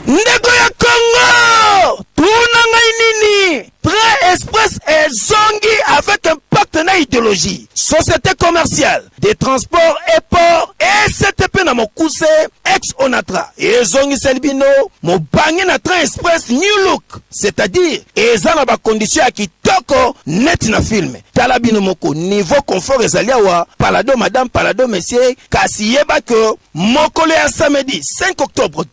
ndeko ya congo tuna ngai nini train express ezongi avec un pacte na idéologie société commerciale des transports et port ectp na mokuse ex onatra ezongiseli bino mobange na train express new look c'est-à-dire eza na bakondition ya kitoko neti na filme tala bino moko niveau confort ezali awa palado madame palado monsieur kasi yeba ke Mokolo ya samedi 5 octobre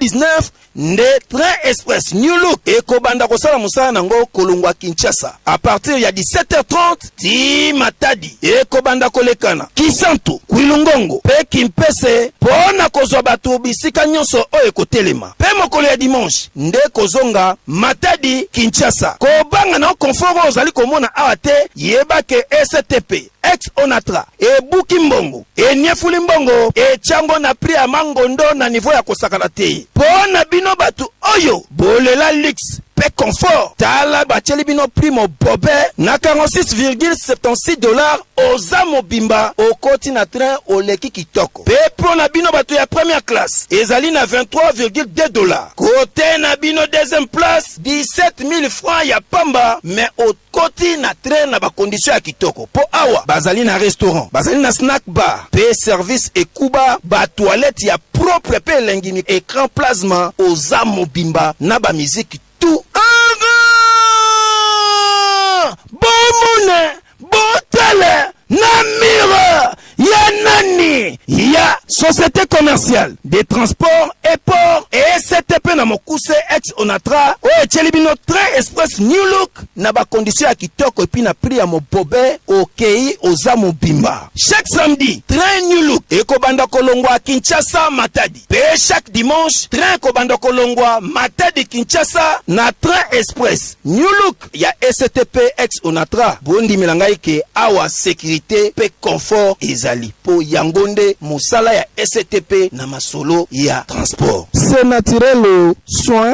2019 nde train express new look ekobanda kosala mosala na yango kolongwa kinshasa a partir ya 17h30 ti matadi ekobanda kolekana kisantu kwilungongo mpe kimpese mpo na kozwa bato bisika nyonso oyo ekotelema mpe mokolo ya dimanche nde kozonga matadi kinshasa kobanga na confort oyo ozali komona awa te yebake ectp Ex Onatra ebuki mbongo, eniefuli mbongo, etia ngo na prix ya mangondo na niveau ya kosakana te. Po na bino batu oyo bolela luxe pe confort, tala batieli bino prix mobobe na 46,76 dollars, oza mobimba okoti na train oleki kitoko. Pe po na bino batu ya première classe ezali na 23,2 dollars. Cote na bino deuxième place 17.000 francs ya pamba mais au Koti na train na ba conditions ya kitoko po awa bazali na restaurant, bazali na snack bar pe service ekuba, ba toilettes ya propre pe elengi mik, ecran plasma oza mobimba na ba musique tout. Anga! Bomona! Botala! Na mur! ya nani ya société commerciale des transports et port ectp na mokuse ex onatra oyo etyeli bino train express new look na bakondisio ya kitoko epi na prix ya mobobe okei oza mobimba chaque samedi train new look ekobanda kolongwa kinshasa matadi mpe chaque dimanche train ekobanda kolongwa matadi kinshasa na train express new look ya ECTP ex Onatra bondimela ngai ke awa securite pe confort ezali po yango nde mosala ya ECTP na masolo ya transport. C'est naturel soin.